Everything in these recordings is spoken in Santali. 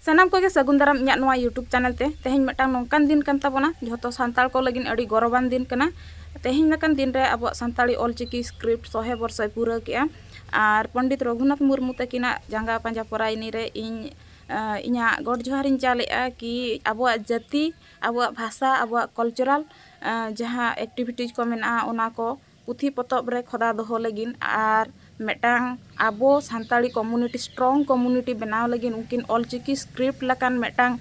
ᱥᱟᱱᱟᱢ ᱠᱚᱜᱮ ᱥᱟᱹᱜᱩᱱ ᱫᱟᱨᱟᱢ ᱤᱧᱟᱹᱜ ᱱᱚᱣᱟ ᱭᱩᱴᱩᱵᱽ ᱪᱮᱱᱮᱞ ᱛᱮ ᱛᱮᱦᱮᱧ ᱢᱤᱫᱴᱟᱝ ᱱᱚᱝᱠᱟᱱ ᱫᱤᱱ ᱠᱟᱱ ᱛᱟᱵᱚᱱᱟ ᱡᱷᱚᱛᱚ ᱥᱟᱱᱛᱟᱲ ᱠᱚ ᱞᱟᱹᱜᱤᱫ ᱟᱹᱰᱤ ᱜᱚᱨᱚᱵᱟᱱ ᱫᱤᱱ ᱠᱟᱱᱟ ᱛᱮᱦᱮᱧ ᱞᱮᱠᱟᱱ ᱫᱤᱱ ᱨᱮ ᱟᱵᱚᱣᱟᱜ ᱥᱟᱱᱛᱟᱲᱤ ᱚᱞᱪᱤᱠᱤ ᱥᱠᱨᱤᱯᱴ ᱥᱚᱦᱮ ᱵᱚᱨᱥᱚᱭ ᱯᱩᱨᱟᱹᱣ ᱠᱮᱜᱼᱟ ᱟᱨ ᱯᱚᱱᱰᱤᱛ ᱨᱚᱜᱷᱩᱱᱟᱛᱷ ᱢᱩᱨᱢᱩ ᱛᱟᱹᱠᱤᱱᱟᱜ ᱡᱟᱸᱜᱟ ᱯᱟᱸᱡᱟ ᱯᱚᱨᱟᱭᱱᱤ ᱨᱮ ᱤᱧ ᱤᱧᱟᱹᱜ ᱜᱚᱰ ᱡᱚᱦᱟᱨᱤᱧ ᱪᱟᱞᱮᱜᱼᱟ ᱠᱤ ᱟᱵᱚᱣᱟᱜ ᱡᱟᱹᱛᱤ ᱟᱵᱚᱣᱟᱜ ᱵᱷᱟᱥᱟ ᱟᱵᱚᱣᱟᱜ ᱠᱟᱞᱪᱟᱨᱟᱞ ᱡᱟᱦᱟᱸ ᱮᱠᱴᱤᱵᱷᱤᱴᱤᱡᱽ ᱠᱚ ᱢᱮᱱᱟᱜᱼᱟ ᱚᱱᱟ ᱠᱚ ᱯᱩᱛᱷᱤ ᱯᱚᱛᱚᱵ ᱨᱮ ᱠᱷᱚᱫᱟ ᱫᱚᱦᱚ ᱞᱟᱹᱜᱤᱫ ᱟᱨ ᱢᱤᱫᱴᱟᱝ ᱟᱵᱚ ᱥᱟᱱᱛᱟᱲᱤ ᱠᱚᱢᱤᱭᱩᱱᱤᱴᱤ ᱥᱴᱨᱚᱝ ᱠᱚᱢᱤᱭᱩᱱᱤᱴᱤ ᱵᱮᱱᱟᱣ ᱞᱟᱹᱜᱤᱫ ᱩᱱᱠᱤᱱ ᱚᱞ ᱪᱤᱠᱤ ᱥᱠᱨᱤᱯᱴ ᱞᱮᱠᱟᱱ ᱢᱤᱫᱴᱟᱝ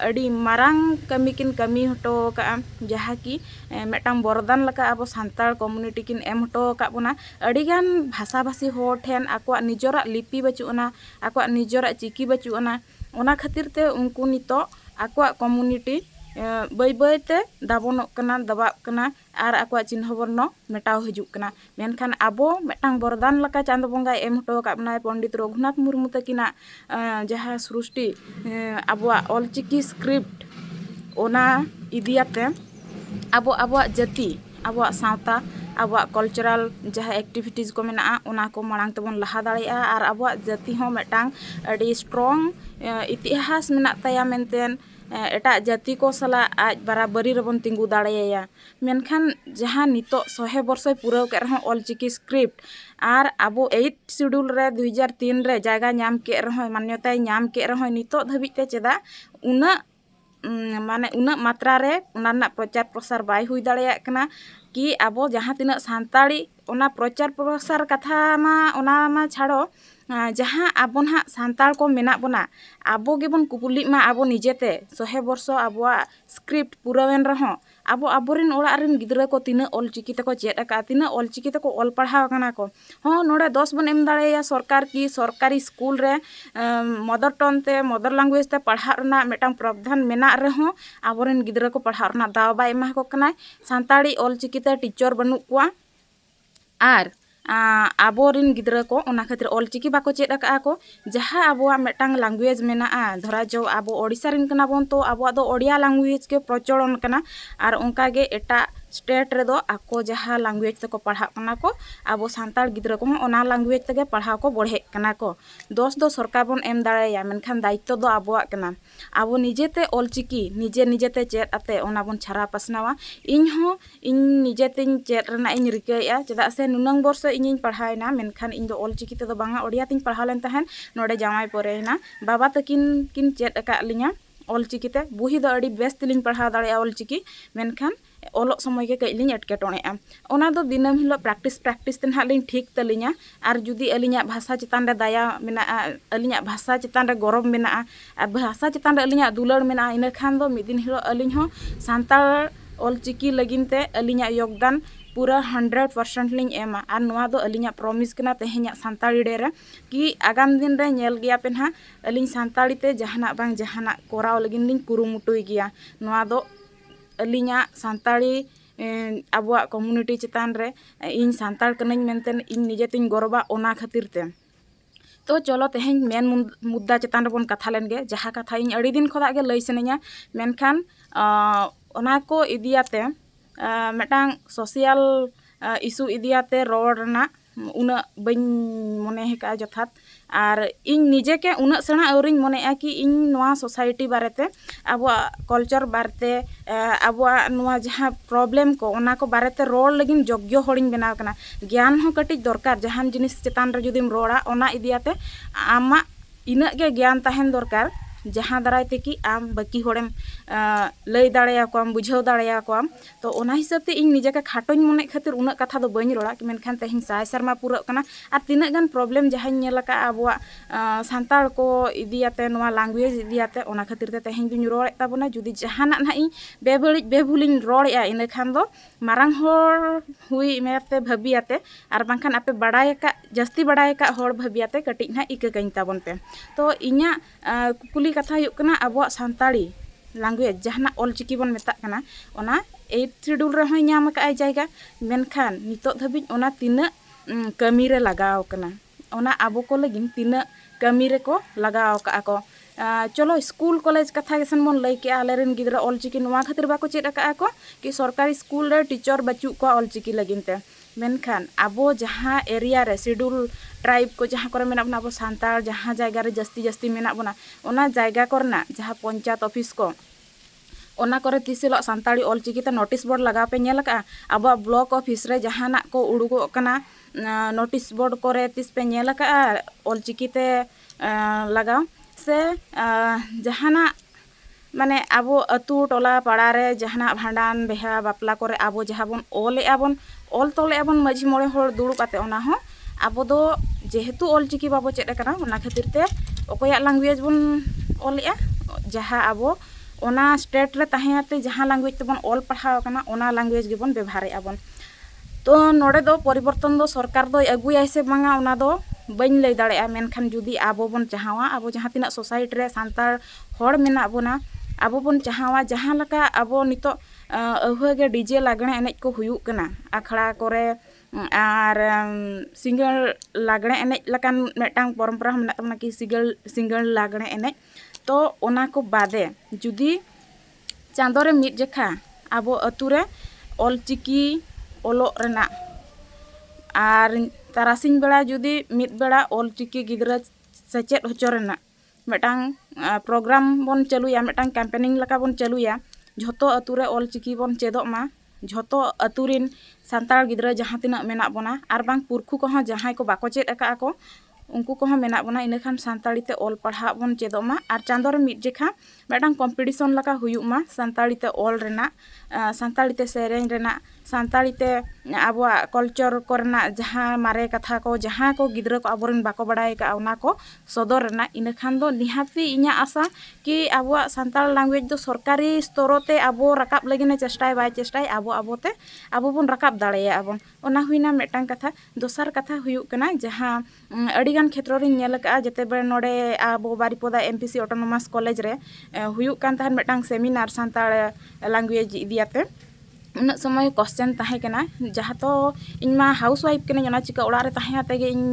ᱟᱹᱰᱤ ᱢᱟᱨᱟᱝ ᱠᱟᱹᱢᱤ ᱠᱤᱱ ᱠᱟᱹᱢᱤ ᱦᱚᱴᱚ ᱟᱠᱟᱫᱼᱟ ᱡᱟᱦᱟᱸ ᱠᱤ ᱢᱤᱫᱴᱟᱝ ᱵᱚᱨᱫᱟᱱ ᱞᱮᱠᱟ ᱟᱵᱚ ᱥᱟᱱᱛᱟᱲ ᱠᱚᱢᱤᱭᱩᱱᱤᱴᱤ ᱠᱤᱱ ᱮᱢ ᱦᱚᱴᱚ ᱟᱠᱟᱫ ᱵᱚᱱᱟ ᱟᱹᱰᱤ ᱜᱟᱱ ᱵᱷᱟᱥᱟ ᱵᱷᱟᱥᱤ ᱦᱚᱲ ᱴᱷᱮᱱ ᱟᱠᱚᱣᱟᱜ ᱱᱤᱡᱮᱨᱟᱜ ᱞᱤᱯᱤ ᱵᱟᱹᱪᱩᱜ ᱟᱱᱟ ᱟᱠᱚᱣᱟᱜ ᱱᱤᱡᱮᱨᱟᱜ ᱪᱤᱠᱤ ᱵᱟᱹᱪᱩᱜ ᱟᱱᱟ ᱚᱱᱟ ᱠᱷᱟᱹᱛᱤᱨ ᱛᱮ ᱩᱱᱠᱩ ᱱᱤᱛᱚᱜ ᱟᱠᱚᱣᱟᱜ ᱠᱚᱢᱤᱭᱩᱱᱤᱴᱤ ᱵᱟᱹᱭ ᱵᱟᱹᱭ ᱛᱮ ᱫᱟᱵᱚᱱᱚᱜ ᱠᱟᱱᱟ ᱫᱟᱵᱟᱜ ᱠᱟᱱᱟ ᱟᱨ ᱟᱠᱚᱣᱟᱜ ᱪᱤᱱᱦᱟᱹ ᱵᱚᱨᱱᱚ ᱢᱮᱴᱟᱣ ᱦᱤᱡᱩᱜ ᱠᱟᱱᱟ ᱢᱮᱱᱠᱷᱟᱱ ᱟᱵᱚ ᱢᱤᱫᱴᱟᱝ ᱵᱚᱨᱫᱟᱱ ᱞᱮᱠᱟ ᱪᱟᱸᱫᱚ ᱵᱚᱸᱜᱟᱭ ᱮᱢ ᱦᱚᱴᱚ ᱟᱠᱟᱫ ᱵᱚᱱᱟᱭ ᱯᱚᱱᱰᱤᱛ ᱨᱚᱜᱷᱩᱱᱟᱛᱷ ᱢᱩᱨᱢᱩ ᱛᱟᱹᱠᱤᱱᱟᱜ ᱡᱟᱦᱟᱸ ᱥᱨᱤᱥᱴᱤ ᱟᱵᱚᱣᱟᱜ ᱚᱞ ᱪᱤᱠᱤ ᱥᱠᱨᱤᱯᱴ ᱚᱱᱟ ᱤᱫᱤᱭᱟᱛᱮ ᱟᱵᱚ ᱟᱵᱚᱣᱟᱜ ᱡᱟᱹᱛᱤ ᱟᱵᱚᱣᱟᱜ ᱥᱟᱶᱛᱟ ᱟᱵᱚᱣᱟᱜ ᱠᱟᱞᱪᱟᱨᱟᱞ ᱡᱟᱦᱟᱸ ᱮᱠᱴᱤᱵᱷᱤᱴᱤᱡᱽ ᱠᱚ ᱢᱮᱱᱟᱜᱼᱟ ᱚᱱᱟ ᱠᱚ ᱢᱟᱲᱟᱝ ᱛᱮᱵᱚᱱ ᱞᱟᱦᱟ ᱫᱟᱲᱮᱭᱟᱜᱼᱟ ᱟᱨ ᱟᱵᱚᱣᱟᱜ ᱡᱟᱹᱛᱤ ᱦᱚᱸ ᱢᱤᱫᱴᱟᱝ ᱟᱹᱰᱤ ᱥᱴᱨᱚᱝ ᱤᱛᱤᱦᱟᱥ ᱢᱮᱱᱟᱜ ᱛᱟᱭᱟ ᱢᱮᱱᱛᱮ ᱮᱴᱟᱜ ᱡᱟᱹᱛᱤ ᱠᱚ ᱥᱟᱞᱟᱜ ᱟᱡ ᱵᱟᱨᱟᱵᱟᱹᱨᱤ ᱨᱮᱵᱚᱱ ᱛᱤᱸᱜᱩ ᱫᱟᱲᱮᱭᱟᱭᱟ ᱢᱮᱱᱠᱷᱟᱱ ᱡᱟᱦᱟᱸ ᱱᱤᱛᱳᱜ ᱥᱚᱦᱮ ᱵᱚᱨᱥᱚᱭ ᱯᱩᱨᱟᱹᱣ ᱠᱮᱫ ᱨᱮᱦᱚᱸ ᱚᱞ ᱪᱤᱠᱤ ᱥᱠᱨᱤᱯᱴ ᱟᱨ ᱟᱵᱚ ᱮᱭᱤᱴ ᱥᱤᱰᱩᱞ ᱨᱮ ᱫᱩ ᱦᱟᱡᱟᱨ ᱛᱤᱱ ᱨᱮ ᱡᱟᱭᱜᱟᱭ ᱧᱟᱢ ᱠᱮᱫ ᱨᱮᱦᱚᱸᱭ ᱢᱟᱱᱱᱚᱛᱟᱭ ᱧᱟᱢ ᱠᱮᱫ ᱨᱮᱦᱚᱸᱭ ᱱᱤᱛᱳᱜ ᱫᱷᱟᱹᱵᱤᱡ ᱛᱮ ᱪᱮᱫᱟᱜ ᱩᱱᱟᱹᱜ ᱢᱟᱱᱮ ᱩᱱᱟᱹᱜ ᱢᱟᱛᱨᱟ ᱨᱮ ᱚᱱᱟ ᱨᱮᱱᱟᱜ ᱯᱨᱚᱪᱟᱨ ᱯᱨᱚᱥᱟᱨ ᱵᱟᱭ ᱦᱩᱭ ᱫᱟᱲᱮᱭᱟᱜ ᱠᱟᱱᱟ ᱠᱤ ᱟᱵᱚ ᱡᱟᱦᱟᱸ ᱛᱤᱱᱟᱹᱜ ᱥᱟᱱᱛᱟᱲᱤ ᱚᱱᱟ ᱯᱨᱚᱪᱟᱨ ᱯᱨᱚᱥᱟᱨ ᱠᱟᱛᱷᱟ ᱢᱟ ᱚᱱᱟ ᱢᱟ ᱪᱷᱟᱲᱚ ᱡᱟᱦᱟᱸ ᱟᱵᱚ ᱱᱟᱦᱟᱜ ᱥᱟᱱᱛᱟᱲ ᱠᱚ ᱢᱮᱱᱟᱜ ᱵᱚᱱᱟ ᱟᱵᱚ ᱜᱮᱵᱚᱱ ᱠᱩᱯᱩᱞᱤᱜ ᱢᱟ ᱟᱵᱚ ᱱᱤᱡᱮ ᱛᱮ ᱥᱚᱦᱮ ᱵᱚᱨᱥᱚ ᱟᱵᱚᱣᱟᱜ ᱥᱠᱨᱤᱯᱴ ᱯᱩᱨᱟᱹᱣᱮᱱ ᱨᱮᱦᱚᱸ ᱟᱵᱚ ᱟᱵᱚ ᱨᱮᱱ ᱚᱲᱟᱜ ᱨᱮᱱ ᱜᱤᱫᱽᱨᱟᱹ ᱠᱚ ᱛᱤᱱᱟᱹᱜ ᱚᱞ ᱪᱤᱠᱤ ᱛᱮᱠᱚ ᱪᱮᱫ ᱟᱠᱟᱫᱼᱟ ᱛᱤᱱᱟᱹᱜ ᱚᱞ ᱪᱤᱠᱤ ᱛᱮᱠᱚ ᱚᱞ ᱯᱟᱲᱦᱟᱣ ᱠᱟᱱᱟ ᱠᱚ ᱦᱚᱸ ᱱᱚᱰᱮ ᱫᱚᱥ ᱵᱚᱱ ᱮᱢ ᱫᱟᱲᱮᱭᱟᱭᱟ ᱥᱚᱨᱠᱟᱨ ᱠᱤ ᱥᱚᱨᱠᱟᱨᱤ ᱤᱥᱠᱩᱞ ᱨᱮ ᱢᱟᱫᱟᱨ ᱴᱚᱝ ᱛᱮ ᱢᱟᱫᱟᱨ ᱞᱮᱝᱜᱩᱭᱮᱡᱽ ᱛᱮ ᱯᱟᱲᱦᱟᱜ ᱨᱮᱱᱟᱜ ᱢᱤᱫᱴᱟᱝ ᱯᱨᱚᱵᱫᱷᱟᱱ ᱢᱮᱱᱟᱜ ᱨᱮᱦᱚᱸ ᱟᱵᱚ ᱨᱮᱱ ᱜᱤᱫᱽᱨᱟᱹ ᱠᱚ ᱯᱟᱲᱦᱟᱜ ᱨᱮᱱᱟᱜ ᱫᱟᱣ ᱵᱟᱭ ᱮᱢᱟ ᱠᱚ ᱠᱟᱱᱟᱭ ᱥᱟᱱᱛᱟᱲᱤ ᱚᱞ ᱪᱤᱠᱤ ᱛᱮ ᱴᱤᱪᱚᱨ ᱵᱟᱹᱱᱩᱜ ᱠᱚᱣᱟ ᱟᱨ ᱟᱵᱚ ᱨᱮᱱ ᱜᱤᱫᱽᱨᱟᱹ ᱠᱚ ᱚᱱᱟ ᱠᱷᱟᱹᱛᱤᱨ ᱚᱞ ᱪᱤᱠᱤ ᱵᱟᱠᱚ ᱪᱮᱫ ᱠᱟᱜᱼᱟ ᱠᱚ ᱡᱟᱦᱟᱸ ᱟᱵᱚᱣᱟᱜ ᱢᱤᱫᱴᱟᱝ ᱞᱟᱝᱜᱩᱭᱮᱡᱽ ᱢᱮᱱᱟᱜᱼᱟ ᱫᱷᱚᱨᱟ ᱡᱚ ᱟᱵᱚ ᱳᱰᱤᱥᱟ ᱨᱮᱱ ᱠᱟᱱᱟ ᱵᱚᱱ ᱛᱚ ᱟᱵᱚᱣᱟᱜ ᱫᱚ ᱳᱰᱤᱭᱟ ᱞᱟᱝᱜᱩᱭᱮᱡᱽ ᱜᱮ ᱯᱨᱚᱪᱚᱞᱚᱱ ᱠᱟᱱᱟ ᱟᱨ ᱚᱱᱠᱟ ᱜᱮ ᱮᱴᱟᱜ ᱥᱴᱮᱴ ᱨᱮᱫᱚ ᱟᱠᱚ ᱡᱟᱦᱟᱸ ᱞᱟᱝᱜᱩᱭᱮᱡᱽ ᱛᱮᱠᱚ ᱯᱟᱲᱦᱟᱜ ᱠᱟᱱᱟ ᱠᱚ ᱟᱵᱚ ᱥᱟᱱᱛᱟᱲ ᱜᱤᱫᱽᱨᱟᱹ ᱠᱚᱦᱚᱸ ᱚᱱᱟ ᱞᱟᱝᱜᱩᱭᱮᱡᱽ ᱛᱮᱜᱮ ᱯᱟᱲᱦᱟᱣ ᱠᱚ ᱵᱚᱲᱦᱮᱜ ᱠᱟᱱᱟ ᱠᱚ ᱫᱳᱥ ᱫᱚ ᱥᱚᱨᱠᱟᱨ ᱵᱚᱱ ᱮᱢ ᱫᱟᱲᱮᱭᱟᱭᱟ ᱢᱮᱱᱠᱷᱟᱱ ᱫᱟᱭᱤᱛᱛᱚ ᱫᱚ ᱟᱵᱚᱣᱟᱜ ᱠᱟᱱᱟ ᱟᱵᱚ ᱱᱤᱡᱮᱛᱮ ᱚᱞᱪᱤᱠᱤ ᱱᱤᱡᱮ ᱱᱤᱡᱮᱛᱮ ᱪᱮᱫ ᱟᱛᱮ ᱚᱱᱟ ᱵᱚᱱ ᱪᱷᱟᱨᱟᱣ ᱯᱟᱥᱱᱟᱣᱟ ᱤᱧ ᱦᱚᱸ ᱤᱧ ᱱᱤᱡᱮ ᱛᱤᱧ ᱪᱮᱫ ᱨᱮᱱᱟᱜ ᱤᱧ ᱨᱤᱠᱟᱹᱭᱮᱫᱼᱟ ᱪᱮᱫᱟᱜ ᱥᱮ ᱱᱩᱱᱟᱹᱝ ᱵᱚᱨᱥᱚ ᱤᱧᱤᱧ ᱯᱟᱲᱦᱟᱣᱮᱱᱟ ᱢᱮᱱᱠᱷᱟᱱ ᱤᱧ ᱫᱚ ᱚᱞᱪᱤᱠᱤ ᱛᱮᱫᱚ ᱵᱟᱝᱟ ᱳᱰᱤᱭᱟ ᱛᱤᱧ ᱯᱟᱲᱦᱟᱣ ᱞᱮᱱ ᱛᱟᱦᱮᱸᱫ ᱱᱚᱰᱮ ᱡᱟᱶᱟᱭ ᱯᱚᱨᱮᱭᱮᱱᱟ ᱵᱟᱵᱟ ᱛᱟᱹᱠᱤᱱ ᱠᱤᱱ ᱪᱮᱫ ᱟᱠᱟᱫ ᱞᱤᱧᱟᱹ ᱚᱞᱪᱤᱠᱤ ᱛᱮ ᱵᱩᱦᱤ ᱫᱚ ᱟᱹᱰᱤ ᱵᱮᱥ ᱛᱮᱞᱤᱧ ᱯᱟᱲᱦᱟᱣ ᱫᱟᱲᱮᱭᱟᱜᱼᱟ ᱚᱞᱪᱤᱠᱤ ᱢᱮᱱᱠᱷᱟᱱ ᱚᱞᱚᱜ ᱥᱚᱢᱚᱭ ᱜᱮ ᱠᱟᱹᱡ ᱞᱤᱧ ᱮᱴᱠᱮᱴᱚᱬᱮᱜᱼᱟ ᱚᱱᱟ ᱫᱚ ᱫᱤᱱᱟᱹᱢ ᱦᱤᱞᱳᱜ ᱯᱨᱮᱠᱴᱤᱥ ᱯᱨᱮᱠᱴᱤᱥ ᱛᱮ ᱱᱟᱦᱟᱜ ᱞᱤᱧ ᱴᱷᱤᱠ ᱛᱟᱹᱞᱤᱧᱟ ᱟᱨ ᱡᱩᱫᱤ ᱟᱹᱞᱤᱧᱟᱜ ᱵᱷᱟᱥᱟ ᱪᱮᱛᱟᱱ ᱨᱮ ᱫᱟᱭᱟ ᱢᱮᱱᱟᱜᱼᱟ ᱟᱹᱞᱤᱧᱟᱜ ᱵᱷᱟᱥᱟ ᱪᱮᱛᱟᱱ ᱨᱮ ᱜᱚᱨᱚᱵᱽ ᱢᱮᱱᱟᱜᱼᱟ ᱟᱨ ᱵᱷᱟᱥᱟ ᱪᱮᱛᱟᱱ ᱨᱮ ᱟᱹᱞᱤᱧᱟᱜ ᱫᱩᱞᱟᱹᱲ ᱢᱮᱱᱟᱜᱼᱟ ᱤᱱᱟᱹ ᱠᱷᱟᱱ ᱫᱚ ᱢᱤᱫ ᱫᱤᱱ ᱦᱤᱞᱳᱜ ᱟᱹᱞᱤᱧ ᱦᱚᱸ ᱥᱟᱱᱛᱟᱲ ᱚᱞ ᱪᱤᱠᱤ ᱞᱟᱹᱜᱤᱫ ᱛᱮ ᱟᱹᱞᱤᱧᱟᱜ ᱡᱳᱜᱽᱫᱟᱱ ᱯᱩᱨᱟᱹ ᱦᱟᱱᱰᱨᱮᱰ ᱯᱟᱨᱥᱮᱱᱴ ᱞᱤᱧ ᱮᱢᱟ ᱟᱨ ᱱᱚᱣᱟ ᱫᱚ ᱟᱹᱞᱤᱧᱟᱜ ᱯᱨᱚᱢᱤᱥ ᱠᱟᱱᱟ ᱛᱮᱦᱮᱧᱟᱜ ᱥᱟᱱᱛᱟᱲᱤ ᱰᱮᱹ ᱨᱮ ᱠᱤ ᱟᱜᱟᱢ ᱫᱤᱱ ᱨᱮ ᱧᱮᱞ ᱜᱮᱭᱟ ᱯᱮ ᱱᱟᱦᱟᱜ ᱟᱹᱞᱤᱧ ᱥᱟᱱᱛᱟᱲᱤ ᱛᱮ ᱡᱟᱦᱟᱱᱟᱜ ᱵᱟᱝ ᱡᱟᱦᱟᱱᱟᱜ ᱠᱚᱨᱟᱣ ᱞᱟᱹᱜᱤᱫ ᱞᱤᱧ ᱠᱩᱨᱩᱢᱩᱴᱩᱭ ᱜᱮᱭᱟ ᱱᱚᱣᱟ ᱫᱚ ᱟᱹᱞᱤᱧᱟᱜ ᱥᱟᱱᱛᱟᱲᱤ ᱟᱵᱚᱣᱟᱜ ᱠᱚᱢᱤᱭᱩᱱᱤᱴᱤ ᱪᱮᱛᱟᱱ ᱨᱮ ᱤᱧ ᱥᱟᱱᱛᱟᱲ ᱠᱟᱹᱱᱟᱹᱧ ᱢᱮᱱᱛᱮ ᱤᱧ ᱱᱤᱡᱮ ᱛᱤᱧ ᱜᱚᱨᱚᱵᱟ ᱚᱱᱟ ᱠᱷᱟᱹᱛᱤᱨ ᱛᱮ ᱛᱚ ᱪᱚᱞᱚ ᱛᱮᱦᱮᱧ ᱢᱮᱱ ᱢᱩᱫᱽᱫᱟ ᱪᱮᱛᱟᱱ ᱨᱮᱵᱚᱱ ᱠᱟᱛᱷᱟ ᱞᱮᱱᱜᱮ ᱡᱟᱦᱟᱸ ᱠᱟᱛᱷᱟ ᱤᱧ ᱟᱹᱰᱤ ᱫᱤᱱ ᱠᱷᱚᱱᱟᱜ ᱜᱮ ᱞᱟᱹᱭ ᱥᱟᱱᱟᱧᱟ ᱢᱮᱱᱠᱷᱟᱱ ᱚᱱᱟ ᱠᱚ ᱤᱫᱤᱭᱟᱛᱮ ᱢᱤᱫᱴᱟᱝ ᱥᱳᱥᱟᱞ ᱤᱥᱩ ᱤᱫᱤᱭᱟᱛᱮ ᱨᱚᱲ ᱨᱮᱱᱟᱜ ᱩᱱᱟᱹᱜ ᱵᱟᱹᱧ ᱢᱚᱱᱮ ᱟᱠᱟᱫᱼᱟ ᱡᱚᱛᱷᱟᱛ ᱟᱨ ᱤᱧ ᱱᱤᱡᱮ ᱜᱮ ᱩᱱᱟᱹᱜ ᱥᱮᱬᱟ ᱟᱹᱣᱨᱤᱧ ᱢᱚᱱᱮᱭᱟ ᱠᱤ ᱤᱧ ᱱᱚᱣᱟ ᱥᱳᱥᱟᱭᱤᱴᱤ ᱵᱟᱨᱮᱛᱮ ᱟᱵᱚᱣᱟᱜ ᱠᱟᱞᱪᱟᱨ ᱵᱟᱨᱮᱛᱮ ᱟᱵᱚᱣᱟᱜ ᱱᱚᱣᱟ ᱡᱟᱦᱟᱸ ᱯᱨᱚᱵᱞᱮᱢ ᱠᱚ ᱚᱱᱟ ᱠᱚ ᱵᱟᱨᱮᱛᱮ ᱨᱚᱲ ᱞᱟᱹᱜᱤᱫ ᱡᱳᱜᱽᱜᱚ ᱦᱚᱲᱤᱧ ᱵᱮᱱᱟᱣ ᱠᱟᱱᱟ ᱜᱮᱭᱟᱱ ᱦᱚᱸ ᱠᱟᱹᱴᱤᱡ ᱫᱚᱨᱠᱟᱨ ᱡᱟᱦᱟᱱ ᱡᱤᱱᱤᱥ ᱪᱮᱛᱟᱱ ᱨᱮ ᱡᱩᱫᱤᱢ ᱨᱚᱲᱟ ᱚᱱᱟ ᱤᱫᱤᱭᱟᱛᱮ ᱟᱢᱟᱜ ᱤᱱᱟᱹᱜ ᱜᱮ ᱜᱮᱭᱟᱱ ᱛᱟᱦᱮᱱ ᱫᱚᱨᱠᱟᱨ ᱡᱟᱦᱟᱸ ᱫᱟᱨᱟᱭ ᱛᱮᱠᱤ ᱟᱢ ᱵᱟᱹᱠᱤ ᱦᱚᱲᱮᱢ ᱞᱟᱹᱭ ᱫᱟᱲᱮᱭᱟᱠᱚᱣᱟᱢ ᱵᱩᱡᱷᱟᱹᱣ ᱫᱟᱲᱮᱭᱟᱠᱚᱣᱟᱢ ᱛᱚ ᱚᱱᱟ ᱦᱤᱥᱟᱹᱵ ᱛᱮ ᱤᱧ ᱱᱤᱡᱮᱠᱮ ᱠᱷᱟᱴᱚᱧ ᱢᱚᱱᱮᱜ ᱠᱷᱟᱹᱛᱤᱨ ᱩᱱᱟᱹᱜ ᱠᱟᱛᱷᱟ ᱫᱚ ᱵᱟᱹᱧ ᱨᱚᱲᱟ ᱢᱮᱱᱠᱷᱟᱱ ᱛᱮᱦᱮᱧ ᱥᱟᱭ ᱥᱮᱨᱢᱟ ᱯᱩᱨᱟᱹᱜ ᱠᱟᱱᱟ ᱟᱨ ᱛᱤᱱᱟᱹᱜ ᱜᱟᱱ ᱯᱨᱚᱵᱞᱮᱢ ᱡᱟᱦᱟᱸᱧ ᱧᱮᱞ ᱟᱠᱟᱫᱼᱟ ᱟᱵᱚᱣᱟᱜ ᱥᱟᱱᱛᱟᱲ ᱠᱚ ᱤᱫᱤᱭᱟᱛᱮ ᱱᱚᱣᱟ ᱞᱟᱝᱜᱩᱭᱮᱡᱽ ᱤᱫᱤᱭᱟᱛᱮ ᱚᱱᱟ ᱠᱷᱟᱹᱛᱤᱨ ᱛᱮ ᱛᱮᱦᱮᱧ ᱫᱚᱧ ᱨᱚᱲᱮᱫ ᱛᱟᱵᱚᱱᱟ ᱡᱩᱫᱤ ᱡᱟᱦᱟᱱᱟᱜ ᱱᱟᱦᱟᱜ ᱤᱧ ᱵᱮᱼᱵᱟᱹᱲᱤᱡ ᱵᱮᱼᱵᱷᱩᱞᱤᱧ ᱨᱚᱲᱮᱫᱼᱟ ᱤᱱᱟᱹ ᱠᱷᱟᱱ ᱫᱚ ᱢᱟᱨᱟᱝ ᱦᱚᱲ ᱦᱩᱭ ᱢᱮᱱᱛᱮ ᱵᱷᱟᱹᱵᱤᱭᱟᱛᱮ ᱟᱨ ᱵᱟᱝᱠᱷᱟᱱ ᱟᱯᱮ ᱵᱟᱲᱟᱭ ᱟᱠᱟᱫ ᱡᱟᱹᱥᱛᱤ ᱵᱟᱲᱟᱭ ᱟᱠᱟᱫ ᱦᱚᱲ ᱵᱷᱟᱹᱵᱤᱭᱟᱛᱮ ᱠᱟᱹᱴᱤᱡ ᱱᱟᱦᱟᱜ ᱤᱠᱟᱹ ᱠᱟᱹᱧ ᱛᱟᱵᱚᱱ ᱯᱮ ᱛᱚ ᱤᱧᱟᱹᱜ ᱠᱩᱠᱞᱤ ᱠᱟᱛᱷᱟ ᱦᱩᱭᱩᱜ ᱠᱟᱱᱟ ᱟᱵᱚᱣᱟᱜ ᱥᱟᱱᱛᱟᱲᱤ ᱞᱟᱝᱜᱩᱭᱮᱡᱽ ᱡᱟᱦᱟᱱᱟᱜ ᱚᱞ ᱪᱤᱠᱤ ᱵᱚᱱ ᱢᱮᱛᱟᱜ ᱠᱟᱱᱟ ᱚᱱᱟ ᱮᱭᱤᱴ ᱥᱤᱰᱩᱞ ᱨᱮᱦᱚᱸᱭ ᱧᱟᱢ ᱠᱟᱜ ᱟᱭ ᱡᱟᱭᱜᱟ ᱢᱮᱱᱠᱷᱟᱱ ᱱᱤᱛᱚᱜ ᱫᱷᱟᱹᱵᱤᱡ ᱚᱱᱟ ᱛᱤᱱᱟᱹᱜ ᱠᱟᱹᱢᱤ ᱨᱮ ᱞᱟᱜᱟᱣ ᱠᱟᱱᱟ ᱚᱱᱟ ᱟᱵᱚ ᱠᱚ ᱞᱟᱹᱜᱤᱫ ᱛᱤᱱᱟᱹᱜ ᱠᱟᱹᱢᱤ ᱨᱮᱠᱚ ᱞᱟᱜᱟᱣ ᱠᱟᱜᱼᱟ ᱠᱚ ᱪᱚᱞᱚ ᱤᱥᱠᱩᱞ ᱠᱚᱞᱮᱡᱽ ᱠᱟᱛᱷᱟ ᱜᱮᱥᱮ ᱵᱚᱱ ᱞᱟᱹᱭ ᱠᱮᱜᱼᱟ ᱟᱞᱮ ᱨᱮᱱ ᱜᱤᱫᱽᱨᱟᱹ ᱚᱞ ᱪᱤᱠᱤ ᱱᱚᱣᱟ ᱠᱷᱟᱹᱛᱤᱨ ᱵᱟᱠᱚ ᱪᱮᱫ ᱠᱟᱜᱼᱟ ᱠᱚ ᱠᱤ ᱥᱚᱨᱠᱟᱨᱤ ᱤᱥᱠᱩᱞ ᱨᱮ ᱴᱤᱪᱟᱨ ᱵᱟᱹᱪᱩᱜ ᱠᱚᱣᱟ ᱚᱞ ᱪᱤᱠᱤ ᱞᱟᱹᱜᱤᱫ ᱛᱮ ᱢᱮᱱᱠᱷᱟᱱ ᱟᱵᱚ ᱡᱟᱦᱟᱸ ᱮᱨᱤᱭᱟ ᱨᱮ ᱥᱤᱰᱩᱞ ᱴᱨᱟᱭᱤᱵᱽ ᱠᱚ ᱡᱟᱦᱟᱸ ᱠᱚᱨᱮ ᱢᱮᱱᱟᱜ ᱵᱚᱱᱟ ᱟᱵᱚ ᱥᱟᱱᱛᱟᱲ ᱡᱟᱦᱟᱸ ᱡᱟᱭᱜᱟ ᱨᱮ ᱡᱟᱹᱥᱛᱤ ᱡᱟᱹᱥᱛᱤ ᱢᱮᱱᱟᱜ ᱵᱚᱱᱟ ᱚᱱᱟ ᱡᱟᱭᱜᱟ ᱠᱚᱨᱮᱱᱟᱜ ᱡᱟᱦᱟᱸ ᱯᱚᱧᱪᱟᱭᱮᱛ ᱚᱯᱷᱤᱥ ᱠᱚ ᱚᱱᱟ ᱠᱚᱨᱮ ᱛᱤᱥ ᱦᱤᱞᱳᱜ ᱥᱟᱱᱛᱟᱲᱤ ᱚᱞ ᱪᱤᱠᱤ ᱛᱮ ᱱᱳᱴᱤᱥ ᱵᱳᱰ ᱞᱟᱜᱟᱣ ᱯᱮ ᱧᱮᱞ ᱠᱟᱜᱼᱟ ᱟᱵᱚᱣᱟᱜ ᱵᱞᱚᱠ ᱚᱯᱷᱤᱥ ᱨᱮ ᱡᱟᱦᱟᱱᱟᱜ ᱠᱚ ᱩᱰᱩᱠᱚᱜ ᱠᱟᱱᱟ ᱱᱳᱴᱤᱥ ᱵᱳᱰ ᱠᱚᱨᱮ ᱛᱤᱥ ᱯᱮ ᱧᱮᱞ ᱠᱟᱜᱼᱟ ᱚᱞ ᱪᱤᱠᱤ ᱛᱮ ᱞᱟᱜᱟᱣ ᱥᱮ ᱡᱟᱦᱟᱱᱟᱜ ᱢᱟᱱᱮ ᱟᱵᱚ ᱟᱹᱛᱩ ᱴᱚᱞᱟ ᱯᱟᱲᱟ ᱨᱮ ᱡᱟᱦᱟᱱᱟᱜ ᱵᱷᱟᱸᱰᱟᱱ ᱵᱤᱦᱟᱹ ᱵᱟᱯᱞᱟ ᱠᱚᱨᱮ ᱟᱵᱚ ᱡᱟᱦᱟᱸ ᱵᱚᱱ ᱚᱞ ᱮᱫᱼᱟ ᱵᱚᱱ ᱚᱞ ᱛᱚᱞ ᱮᱫᱼᱟ ᱵᱚᱱ ᱢᱟᱹᱡᱷᱤ ᱢᱚᱬᱮ ᱦᱚᱲ ᱫᱩᱲᱩᱵ ᱠᱟᱛᱮᱫ ᱚᱱᱟ ᱦᱚᱸ ᱟᱵᱚ ᱫᱚ ᱡᱮᱦᱮᱛᱩ ᱚᱞ ᱪᱤᱠᱤ ᱵᱟᱵᱚ ᱪᱮᱫ ᱟᱠᱟᱱᱟ ᱚᱱᱟ ᱠᱷᱟᱹᱛᱤᱨ ᱛᱮ ᱚᱠᱚᱭᱟᱜ ᱞᱟᱝᱜᱩᱭᱮᱡᱽ ᱵᱚᱱ ᱚᱞ ᱮᱫᱼᱟ ᱡᱟᱦᱟᱸ ᱟᱵᱚ ᱚᱱᱟ ᱥᱴᱮᱴ ᱨᱮ ᱛᱟᱦᱮᱸ ᱠᱟᱛᱮᱫ ᱡᱟᱦᱟᱸ ᱞᱟᱝᱜᱩᱭᱮᱡᱽ ᱛᱮᱵᱚᱱ ᱚᱞ ᱯᱟᱲᱦᱟᱣ ᱟᱠᱟᱱᱟ ᱚᱱᱟ ᱞᱟᱝᱜᱩᱭᱮᱡᱽ ᱜᱮᱵᱚᱱ ᱵᱮᱵᱚᱦᱟᱨ ᱮᱫᱼᱟ ᱵᱚᱱ ᱛᱚ ᱱᱚᱰᱮ ᱫᱚ ᱯᱚᱨᱤᱵᱚᱨᱛᱚᱱ ᱫᱚ ᱥᱚᱨᱠᱟᱨ ᱫᱚᱭ ᱟᱹᱜᱩᱭᱟ ᱥᱮ ᱵᱟᱝᱟ ᱚᱱᱟ ᱫᱚ ᱵᱟᱹᱧ ᱞᱟᱹᱭ ᱫᱟᱲᱮᱭᱟᱜᱼᱟ ᱢᱮᱱᱠᱷᱟᱱ ᱡᱩᱫᱤ ᱟᱵᱚ ᱵᱚᱱ ᱪᱟᱦᱟᱣᱟ ᱟᱵᱚ ᱡᱟᱦᱟᱸ ᱛᱤᱱᱟᱹᱜ ᱥᱳᱥᱟᱭᱤᱴᱤ ᱨᱮ ᱥᱟᱱᱛᱟᱲ ᱦᱚᱲ ᱢᱮᱱᱟᱜ ᱵᱚᱱᱟ ᱟᱵᱚ ᱵᱚᱱ ᱪᱟᱦᱟᱣᱟ ᱡᱟᱦᱟᱸ ᱞᱮᱠᱟ ᱟᱵᱚ ᱱᱤᱛᱚᱜ ᱟᱹᱣᱦᱟᱹ ᱜᱮ ᱰᱤᱡᱮ ᱞᱟᱜᱽᱬᱮ ᱮᱱᱮᱡ ᱠᱚ ᱦᱩᱭᱩᱜ ᱠᱟᱱᱟ ᱟᱠᱷᱲᱟ ᱠᱚᱨᱮ ᱟᱨ ᱥᱤᱸᱜᱟᱹᱲ ᱞᱟᱜᱽᱬᱮ ᱮᱱᱮᱡ ᱞᱮᱠᱟᱱ ᱢᱤᱫᱴᱟᱝ ᱯᱚᱨᱚᱢᱯᱚᱨᱟ ᱦᱚᱸ ᱢᱮᱱᱟᱜ ᱛᱟᱵᱚᱱᱟ ᱠᱤ ᱥᱤᱸᱜᱟᱹᱲ ᱥᱤᱸᱜᱟᱹᱲ ᱞᱟᱜᱽᱬᱮ ᱮᱱᱮᱡ ᱛᱚ ᱚᱱᱟ ᱠᱚ ᱵᱟᱫᱮ ᱡᱩᱫᱤ ᱪᱟᱸᱫᱚ ᱨᱮ ᱢᱤᱫ ᱡᱚᱠᱷᱟ ᱟᱵᱚ ᱟᱛᱳ ᱨᱮ ᱚᱞ ᱪᱤᱠᱤ ᱚᱞᱚᱜ ᱨᱮᱱᱟᱜ ᱟᱨ ᱛᱟᱨᱟᱥᱤᱧ ᱵᱮᱲᱟ ᱡᱩᱫᱤ ᱢᱤᱫ ᱵᱮᱲᱟ ᱚᱞ ᱪᱤᱠᱤ ᱜᱤᱫᱽᱨᱟᱹ ᱥᱮᱪᱮᱫ ᱦᱚᱪᱚ ᱨᱮᱱᱟᱜ ᱢᱤᱫᱴᱟᱝ ᱯᱨᱳᱜᱨᱟᱢ ᱵᱚᱱ ᱪᱟᱹᱞᱩᱭᱟ ᱢᱤᱫᱴᱟᱝ ᱠᱮᱢᱯᱮᱱᱤᱝ ᱞᱮᱠᱟ ᱵᱚᱱ ᱪᱟᱹᱞᱩᱭᱟ ᱡᱷᱚᱛᱚ ᱟᱹᱛᱩ ᱨᱮ ᱚᱞ ᱪᱤᱠᱤ ᱵᱚᱱ ᱪᱮᱫᱚᱜ ᱢᱟ ᱡᱷᱚᱛᱚ ᱟᱹᱛᱩ ᱨᱮᱱ ᱥᱟᱱᱛᱟᱲ ᱜᱤᱫᱽᱨᱟᱹ ᱡᱟᱦᱟᱸ ᱛᱤᱱᱟᱹᱜ ᱢᱮᱱᱟᱜ ᱵᱚᱱᱟ ᱟᱨ ᱵᱟᱝ ᱯᱩᱨᱠᱷᱩ ᱠᱚᱦᱚᱸ ᱡᱟᱦᱟᱸᱭ ᱠᱚ ᱵᱟᱠᱚ ᱪᱮᱫ ᱠᱟᱜᱼᱟ ᱠᱚ ᱩᱱᱠᱩ ᱠᱚᱦᱚᱸ ᱢᱮᱱᱟᱜ ᱵᱚᱱᱟ ᱤᱱᱟᱹ ᱠᱷᱟᱱ ᱥᱟᱱᱛᱟᱲᱤ ᱛᱮ ᱚᱞ ᱯᱟᱲᱦᱟᱜ ᱵᱚᱱ ᱪᱮᱫᱚᱜ ᱢᱟ ᱟᱨ ᱪᱟᱸᱫᱚ ᱨᱮ ᱢᱤᱫ ᱡᱚᱠᱷᱟ ᱢᱤᱫᱴᱟᱝ ᱠᱚᱢᱯᱤᱴᱤᱥᱚᱱ ᱞᱮᱠᱟ ᱦᱩᱭᱩᱜ ᱢᱟ ᱥᱟᱱᱛᱟᱲᱤ ᱛᱮ ᱚᱞ ᱨᱮᱱᱟᱜ ᱥᱟᱱᱛᱟᱲᱤ ᱛᱮ ᱥᱮᱨᱮᱧ ᱨᱮᱱᱟᱜ ᱥᱟᱱᱛᱟᱲᱤ ᱛᱮ ᱟᱵᱚᱣᱟᱜ ᱠᱚᱞᱪᱚᱨ ᱠᱚᱨᱮᱱᱟᱜ ᱡᱟᱦᱟᱸ ᱢᱟᱨᱮ ᱠᱟᱛᱷᱟ ᱠᱚ ᱡᱟᱦᱟᱸ ᱠᱚ ᱜᱤᱫᱽᱨᱟᱹ ᱠᱚ ᱟᱵᱚ ᱨᱮᱱ ᱵᱟᱠᱚ ᱵᱟᱲᱟᱭ ᱠᱟᱜᱼᱟ ᱚᱱᱟ ᱠᱚ ᱥᱚᱫᱚᱨ ᱨᱮᱱᱟᱜ ᱤᱱᱟᱹ ᱠᱷᱟᱱ ᱫᱚ ᱱᱤᱦᱟᱹᱛᱤ ᱤᱧᱟᱹᱜ ᱟᱥᱟ ᱠᱤ ᱟᱵᱚᱣᱟᱜ ᱥᱟᱱᱛᱟᱲ ᱞᱮᱝᱜᱩᱭᱮᱡᱽ ᱫᱚ ᱥᱚᱨᱠᱟᱨᱤ ᱥᱛᱚᱨᱚ ᱛᱮ ᱟᱵᱚ ᱨᱟᱠᱟᱵ ᱞᱟᱹᱜᱤᱫ ᱮ ᱪᱮᱥᱴᱟᱭ ᱵᱟᱭ ᱪᱮᱥᱴᱟᱭ ᱟᱵᱚ ᱟᱵᱚ ᱛᱮ ᱟᱵᱚ ᱵᱚᱱ ᱨᱟᱠᱟᱵ ᱫᱟᱲᱮᱭᱟᱜᱼᱟ ᱵᱚᱱ ᱚᱱᱟ ᱦᱩᱭᱱᱟ ᱢᱤᱫᱴᱟᱝ ᱠᱟᱛᱷᱟ ᱫᱚᱥᱟᱨ ᱠᱟᱛᱷᱟ ᱦᱩᱭᱩᱜ ᱠᱟᱱᱟ ᱡᱟᱦᱟᱸ ᱟᱹᱰᱤ ᱜᱟᱱ ᱠᱷᱮᱛᱨᱚ ᱨᱤᱧ ᱧᱮᱞ ᱟᱠᱟᱫᱼᱟ ᱡᱮᱛᱮ ᱵᱟᱨ ᱱᱚᱰᱮ ᱟᱵᱚ Baripada M P C autonomous college ᱨᱮ ᱦᱩᱭᱩᱜ ᱠᱟᱱ ᱛᱟᱦᱮᱸᱫ ᱢᱤᱫᱴᱟᱝ ᱥᱮᱢᱤᱱᱟᱨ ᱥᱟᱱᱛᱟᱲ ᱞᱟᱝᱜᱩᱭᱮᱡᱽ ᱤᱫᱤ ᱠᱟᱛᱮᱫ ᱩᱱᱟᱹᱜ ᱥᱚᱢᱚᱭ ᱠᱚᱥᱪᱮᱱ ᱛᱟᱦᱮᱸ ᱠᱟᱱᱟ ᱡᱟᱦᱟᱸ ᱫᱚ ᱤᱧ ᱢᱟ ᱦᱟᱣᱩᱥ ᱚᱣᱟᱭᱤᱯᱷ ᱠᱟᱹᱱᱟᱹᱧ ᱚᱱᱟ ᱪᱤᱠᱟᱹ ᱚᱲᱟᱜ ᱨᱮ ᱛᱟᱦᱮᱸ ᱠᱟᱛᱮᱫ ᱜᱮ ᱤᱧ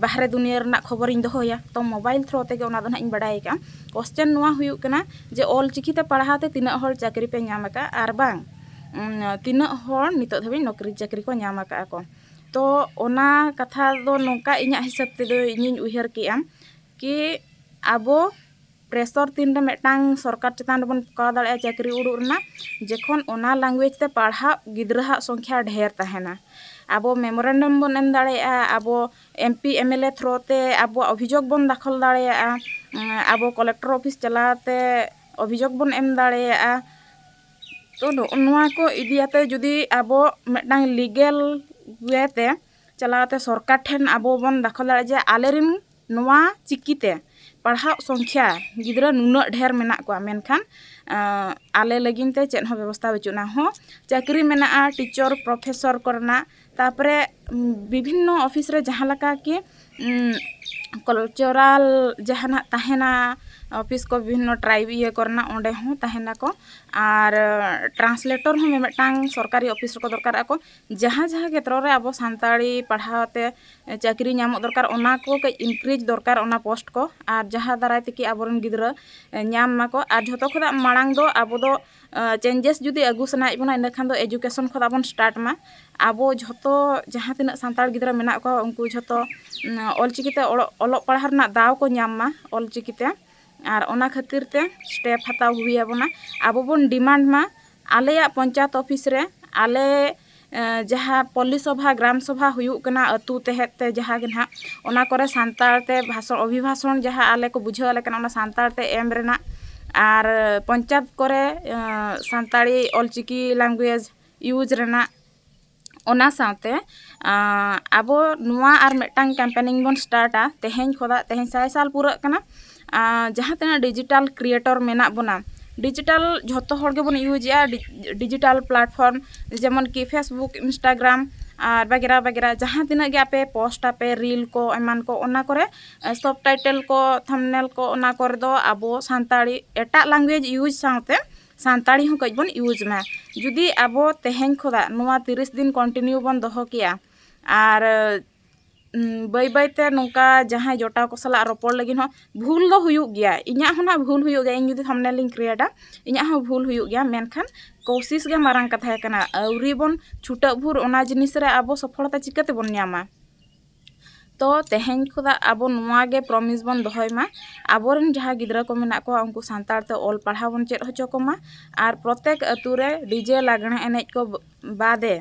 ᱵᱟᱦᱨᱮ ᱫᱩᱱᱤᱭᱟᱹ ᱨᱮᱱᱟᱜ ᱠᱷᱚᱵᱚᱨᱤᱧ ᱫᱚᱦᱚᱭᱟ ᱛᱚ ᱢᱳᱵᱟᱭᱤᱞ ᱛᱷᱨᱳ ᱛᱮᱜᱮ ᱚᱱᱟ ᱫᱚ ᱦᱟᱸᱜ ᱤᱧ ᱵᱟᱲᱟᱭ ᱟᱠᱟᱫᱼᱟ ᱠᱚᱥᱪᱮᱱ ᱱᱚᱣᱟ ᱦᱩᱭᱩᱜ ᱠᱟᱱᱟ ᱡᱮ ᱚᱞ ᱪᱤᱠᱤ ᱛᱮ ᱯᱟᱲᱦᱟᱣ ᱛᱮ ᱛᱤᱱᱟᱹᱜ ᱦᱚᱲ ᱪᱟᱹᱠᱨᱤ ᱯᱮ ᱧᱟᱢ ᱟᱠᱟᱫᱼᱟ ᱟᱨ ᱵᱟᱝ ᱛᱤᱱᱟᱹᱜ ᱦᱚᱲ ᱱᱤᱛᱚᱜ ᱫᱷᱟᱹᱵᱤᱡ ᱱᱚᱠᱨᱤ ᱪᱟᱹᱠᱨᱤ ᱠᱚ ᱧᱟᱢ ᱟᱠᱟᱫᱼᱟ ᱠᱚ ᱛᱚ ᱚᱱᱟ ᱠᱟᱛᱷᱟ ᱫᱚ ᱱᱚᱝᱠᱟ ᱤᱧᱟᱹᱜ ᱦᱤᱥᱟᱹᱵ ᱛᱮᱫᱚ ᱤᱧᱤᱧ ᱩᱭᱦᱟᱹᱨ ᱠᱮᱜᱼᱟ ᱠᱤ ᱟᱵᱚ ᱯᱨᱮᱥᱟᱨ ᱛᱤᱱ ᱨᱮ ᱢᱤᱫᱴᱟᱱ ᱥᱚᱨᱠᱟᱨ ᱪᱮᱛᱟᱱ ᱨᱮᱵᱚᱱ ᱴᱮᱠᱟᱣ ᱫᱟᱲᱮᱭᱟᱜᱼᱟ ᱪᱟᱹᱠᱨᱤ ᱩᱰᱩᱠ ᱨᱮᱱᱟᱜ ᱡᱚᱠᱷᱚᱱ ᱚᱱᱟ ᱞᱮᱝᱜᱩᱭᱮᱡᱽ ᱛᱮ ᱯᱟᱲᱦᱟᱜ ᱜᱤᱫᱽᱨᱟᱹ ᱟᱜ ᱥᱚᱝᱠᱷᱟ ᱰᱷᱮᱨ ᱛᱟᱦᱮᱱᱟ ᱟᱵᱚ ᱢᱮᱢᱳᱨᱮᱱᱰᱚᱢ ᱵᱚᱱ ᱮᱢ ᱫᱟᱲᱮᱭᱟᱜᱼᱟ ᱟᱵᱚ M P M L A through ᱛᱮ ᱟᱵᱚᱣᱟᱜ ᱚᱵᱷᱤᱡᱳᱜᱽ ᱵᱚᱱ ᱫᱟᱠᱷᱚᱞ ᱫᱟᱲᱮᱭᱟᱜᱼᱟ ᱟᱵᱚ ᱠᱚᱞᱮᱠᱴᱚᱨ ᱚᱯᱷᱤᱥ ᱪᱟᱞᱟᱣ ᱠᱟᱛᱮᱫ ᱚᱵᱷᱤᱡᱳᱜᱽ ᱵᱚᱱ ᱮᱢ ᱫᱟᱲᱮᱭᱟᱜᱼᱟ ᱛᱚ ᱱᱚᱜᱼᱚ ᱱᱚᱣᱟ ᱠᱚ ᱤᱫᱤ ᱠᱟᱛᱮ ᱡᱩᱫᱤ ᱟᱵᱚ ᱢᱤᱫᱴᱟᱝ ᱞᱤᱜᱮᱞ ᱚᱭᱮ ᱛᱮ ᱪᱟᱞᱟᱣ ᱠᱟᱛᱮ ᱥᱚᱨᱠᱟᱨ ᱴᱷᱮᱱ ᱟᱵᱚ ᱵᱚᱱ ᱫᱟᱠᱷᱚᱞ ᱫᱟᱲᱮᱭᱟᱜᱼᱟ ᱡᱮ ᱟᱞᱮ ᱨᱮᱱ ᱱᱚᱣᱟ ᱪᱤᱠᱤ ᱛᱮ ᱯᱟᱲᱦᱟᱜ ᱥᱚᱝᱠᱷᱟ ᱜᱤᱫᱽᱨᱟᱹ ᱱᱩᱱᱟᱹᱜ ᱰᱷᱮᱨ ᱢᱮᱱᱟᱜ ᱠᱚᱣᱟ ᱢᱮᱱᱠᱷᱟᱱ ᱟᱞᱮ ᱞᱟᱹᱜᱤᱫ ᱛᱮ ᱪᱮᱫ ᱦᱚᱸ ᱵᱮᱵᱚᱥᱛᱷᱟ ᱵᱟᱹᱪᱩᱜ ᱟᱱᱟ ᱦᱚᱸ ᱪᱟᱹᱠᱨᱤ ᱢᱮᱱᱟᱜᱼᱟ ᱴᱤᱪᱟᱨ ᱯᱨᱚᱯᱷᱮᱥᱚᱨ ᱠᱚᱨᱮᱱᱟᱜ ᱛᱟᱨᱯᱚᱨᱮ ᱵᱤᱵᱷᱤᱱᱱᱚ ᱚᱯᱷᱤᱥ ᱨᱮ ᱡᱟᱦᱟᱸ ᱞᱮᱠᱟ ᱠᱤ ᱠᱟᱞᱪᱟᱨᱟᱞ ᱡᱟᱦᱟᱱᱟᱜ ᱛᱟᱦᱮᱱᱟ ᱚᱯᱷᱤᱥ ᱠᱚ ᱵᱤᱵᱷᱤᱱᱱᱚ ᱴᱨᱟᱭᱤᱵᱽ ᱤᱭᱟᱹ ᱠᱚᱨᱮᱱᱟᱜ ᱚᱸᱰᱮ ᱦᱚᱸ ᱛᱟᱦᱮᱱᱟᱠᱚ ᱟᱨ ᱴᱨᱟᱱᱥᱞᱮᱴᱚᱨ ᱦᱚᱸ ᱢᱤᱢᱤᱫᱴᱟᱝ ᱥᱚᱨᱠᱟᱨᱤ ᱚᱯᱷᱤᱥ ᱨᱮᱠᱚ ᱫᱚᱨᱠᱟᱨᱚᱜᱼᱟ ᱠᱚ ᱡᱟᱦᱟᱸ ᱡᱟᱦᱟᱸ ᱠᱷᱮᱛᱨᱚ ᱨᱮ ᱟᱵᱚ ᱥᱟᱱᱛᱟᱲᱤ ᱯᱟᱲᱦᱟᱣ ᱛᱮ ᱪᱟᱹᱠᱨᱤ ᱧᱟᱢᱚᱜ ᱫᱚᱨᱠᱟᱨ ᱚᱱᱟ ᱠᱚ ᱠᱟᱹᱡ ᱤᱱᱠᱨᱤᱡᱽ ᱫᱚᱨᱠᱟᱨ ᱚᱱᱟ ᱯᱳᱥᱴ ᱠᱚ ᱟᱨ ᱡᱟᱦᱟᱸ ᱫᱟᱨᱟᱭ ᱛᱮᱠᱤ ᱟᱵᱚ ᱨᱮᱱ ᱜᱤᱫᱽᱨᱟᱹ ᱧᱟᱢ ᱢᱟᱠᱚ ᱟᱨ ᱡᱷᱚᱛᱚ ᱠᱷᱚᱱᱟᱜ ᱢᱟᱲᱟᱝ ᱫᱚ ᱟᱵᱚ ᱫᱚ ᱪᱮᱧᱡᱮᱥ ᱡᱩᱫᱤ ᱟᱹᱜᱩ ᱥᱟᱱᱟᱭᱮᱫ ᱵᱚᱱᱟ ᱤᱱᱟᱹ ᱠᱷᱟᱱ ᱫᱚ ᱮᱡᱩᱠᱮᱥᱚᱱ ᱠᱷᱚᱱᱟᱜ ᱵᱚᱱ ᱥᱴᱟᱨᱴ ᱢᱟ ᱟᱵᱚ ᱡᱷᱚᱛᱚ ᱡᱟᱦᱟᱸ ᱛᱤᱱᱟᱹᱜ ᱥᱟᱱᱛᱟᱲ ᱜᱤᱫᱽᱨᱟᱹ ᱢᱮᱱᱟᱜ ᱠᱚᱣᱟ ᱩᱱᱠᱩ ᱡᱷᱚᱛᱚ ᱚᱞ ᱪᱤᱠᱤ ᱛᱮ ᱚᱞᱚᱜ ᱯᱟᱲᱦᱟᱣ ᱨᱮᱱᱟᱜ ᱫᱟᱣ ᱠᱚ ᱧᱟᱢ ᱢᱟ ᱚᱞ ᱪᱤᱠᱤ ᱛᱮ ᱟᱨ ᱚᱱᱟ ᱠᱷᱟᱹᱛᱤᱨ ᱛᱮ ᱥᱴᱮᱯ ᱦᱟᱛᱟᱣ ᱦᱩᱭ ᱟᱵᱚᱱᱟ ᱟᱵᱚ ᱵᱚᱱ ᱰᱤᱢᱟᱱᱰ ᱢᱟ ᱟᱞᱮᱭᱟᱜ ᱯᱚᱧᱪᱟᱭᱮᱛ ᱚᱯᱷᱤᱥ ᱨᱮ ᱟᱞᱮ ᱡᱟᱦᱟᱸ ᱯᱚᱞᱞᱤ ᱥᱚᱵᱷᱟ ᱜᱨᱟᱢ ᱥᱚᱵᱷᱟ ᱦᱩᱭᱩᱜ ᱠᱟᱱᱟ ᱟᱹᱛᱩ ᱛᱮᱦᱮᱫ ᱛᱮ ᱡᱟᱦᱟᱸ ᱜᱮ ᱦᱟᱸᱜ ᱚᱱᱟ ᱠᱚᱨᱮ ᱥᱟᱱᱛᱟᱲ ᱛᱮ ᱵᱷᱟᱥᱚᱱ ᱚᱵᱷᱤᱵᱷᱟᱥᱚᱱ ᱡᱟᱦᱟᱸ ᱟᱞᱮ ᱠᱚ ᱵᱩᱡᱷᱟᱹᱣ ᱟᱞᱮ ᱠᱟᱱᱟ ᱚᱱᱟ ᱥᱟᱱᱛᱟᱲ ᱛᱮ ᱮᱢ ᱨᱮᱱᱟᱜ ᱟᱨ ᱯᱚᱧᱪᱟᱭᱮᱛ ᱠᱚᱨᱮ ᱥᱟᱱᱛᱟᱲᱤ ᱚᱞ ᱪᱤᱠᱤ ᱞᱮᱝᱜᱩᱭᱮᱡᱽ ᱤᱭᱩᱡᱽ ᱨᱮᱱᱟᱜ ᱚᱱᱟ ᱥᱟᱶᱛᱮ ᱟᱵᱚ ᱱᱚᱣᱟ ᱟᱨ ᱢᱤᱫᱴᱟᱝ ᱠᱮᱢᱯᱮᱱᱤᱝ ᱵᱚᱱ ᱥᱴᱟᱨᱴᱼᱟ ᱛᱮᱦᱮᱧ ᱠᱷᱚᱱᱟᱜ ᱛᱮᱦᱮᱧ ᱥᱟᱭ ᱥᱟᱞ ᱯᱩᱨᱟᱹᱜ ᱠᱟᱱᱟ ᱡᱟᱦᱟᱸ ᱛᱤᱱᱟᱹᱜ ᱰᱤᱡᱤᱴᱟᱞ ᱠᱨᱤᱭᱮᱴᱚᱨ ᱢᱮᱱᱟᱜ ᱵᱚᱱᱟ ᱰᱤᱡᱤᱴᱟᱞ ᱡᱷᱚᱛᱚ ᱦᱚᱲ ᱜᱮᱵᱚᱱ ᱤᱭᱩᱡᱮᱜᱼᱟ ᱰᱤᱡᱤᱴᱟᱞ ᱯᱞᱟᱴᱯᱷᱨᱚᱢ ᱡᱮᱢᱚᱱ ᱠᱤ ᱯᱷᱮᱥᱵᱩᱠ ᱤᱱᱥᱴᱟᱜᱨᱟᱢ ᱟᱨ ᱵᱟᱜᱮᱨᱟ ᱵᱟᱜᱮᱨᱟ ᱡᱟᱦᱟᱸ ᱛᱤᱱᱟᱹᱜ ᱜᱮ ᱟᱯᱮ ᱯᱳᱥᱴ ᱟᱯᱮ ᱨᱤᱞ ᱠᱚ ᱮᱢᱟᱱ ᱠᱚ ᱚᱱᱟ ᱠᱚᱨᱮ ᱥᱚᱵ ᱴᱟᱭᱴᱮᱞ ᱠᱚ ᱛᱷᱟᱢᱱᱮᱞ ᱠᱚ ᱚᱱᱟ ᱠᱚᱨᱮ ᱫᱚ ᱟᱵᱚ ᱥᱟᱱᱛᱟᱲᱤ ᱮᱴᱟᱜ ᱞᱮᱝᱜᱩᱭᱮᱡᱽ ᱤᱭᱩᱡᱽ ᱥᱟᱶᱛᱮ ᱥᱟᱱᱛᱟᱲᱤ ᱦᱚᱸ ᱠᱟᱹᱡ ᱵᱚᱱ ᱤᱭᱩᱡᱽ ᱢᱟ ᱡᱩᱫᱤ ᱟᱵᱚ ᱛᱮᱦᱮᱧ ᱠᱷᱚᱱᱟᱜ ᱱᱚᱣᱟ ᱛᱤᱨᱤᱥ ᱫᱤᱱ ᱠᱚᱱᱴᱤᱱᱤᱭᱩ ᱵᱚᱱ ᱫᱚᱦᱚ ᱠᱮᱭᱟ ᱟᱨ ᱵᱟᱹᱭ ᱵᱟᱹᱭ ᱛᱮ ᱱᱚᱝᱠᱟ ᱡᱟᱦᱟᱸᱭ ᱡᱚᱴᱟᱣ ᱠᱚ ᱥᱟᱞᱟᱜ ᱨᱚᱯᱚᱲ ᱞᱟᱹᱜᱤᱫ ᱦᱚᱸ ᱵᱷᱩᱞ ᱫᱚ ᱦᱩᱭᱩᱜ ᱜᱮᱭᱟ ᱤᱧᱟᱹᱜ ᱦᱚᱸ ᱱᱟᱜ ᱵᱷᱩᱞ ᱦᱩᱭᱩᱜ ᱜᱮᱭᱟ ᱤᱧ ᱡᱩᱫᱤ ᱛᱷᱟᱢᱵᱽᱱᱮᱞ ᱤᱧ ᱠᱨᱤᱭᱮᱴᱟ ᱤᱧᱟᱹᱜ ᱦᱚᱸ ᱵᱷᱩᱞ ᱦᱩᱭᱩᱜ ᱜᱮᱭᱟ ᱢᱮᱱᱠᱷᱟᱱ ᱠᱳᱥᱤᱥ ᱜᱮ ᱢᱟᱨᱟᱝ ᱠᱟᱛᱷᱟ ᱠᱟᱱᱟ ᱟᱹᱣᱨᱤ ᱵᱚᱱ ᱪᱷᱩᱴᱟᱹᱜ ᱵᱷᱳᱨ ᱚᱱᱟ ᱡᱤᱱᱤᱥ ᱨᱮ ᱟᱵᱚ ᱥᱚᱯᱷᱚᱞᱚᱛᱟ ᱪᱤᱠᱟᱹ ᱛᱮᱵᱚᱱ ᱧᱟᱢᱟ ᱛᱚ ᱛᱮᱦᱮᱧ ᱠᱷᱚᱱᱟᱜ ᱟᱵᱚ ᱱᱚᱣᱟ ᱜᱮ ᱯᱨᱚᱢᱤᱥ ᱵᱚᱱ ᱫᱚᱦᱚᱭ ᱢᱟ ᱟᱵᱚ ᱨᱮᱱ ᱡᱟᱦᱟᱸᱭ ᱜᱤᱫᱽᱨᱟᱹ ᱠᱚ ᱢᱮᱱᱟᱜ ᱠᱚᱣᱟ ᱩᱱᱠᱩ ᱥᱟᱱᱛᱟᱲ ᱛᱮ ᱚᱞ ᱯᱟᱲᱦᱟᱣ ᱵᱚᱱ ᱪᱮᱫ ᱦᱚᱪᱚ ᱠᱚᱢᱟ ᱟᱨ ᱯᱨᱚᱛᱮᱠ ᱟᱹᱛᱩ ᱨᱮ ᱰᱤᱡᱮ ᱞᱟᱜᱽᱬᱮ ᱮᱱᱮᱡ ᱠᱚ ᱵᱟᱫᱮ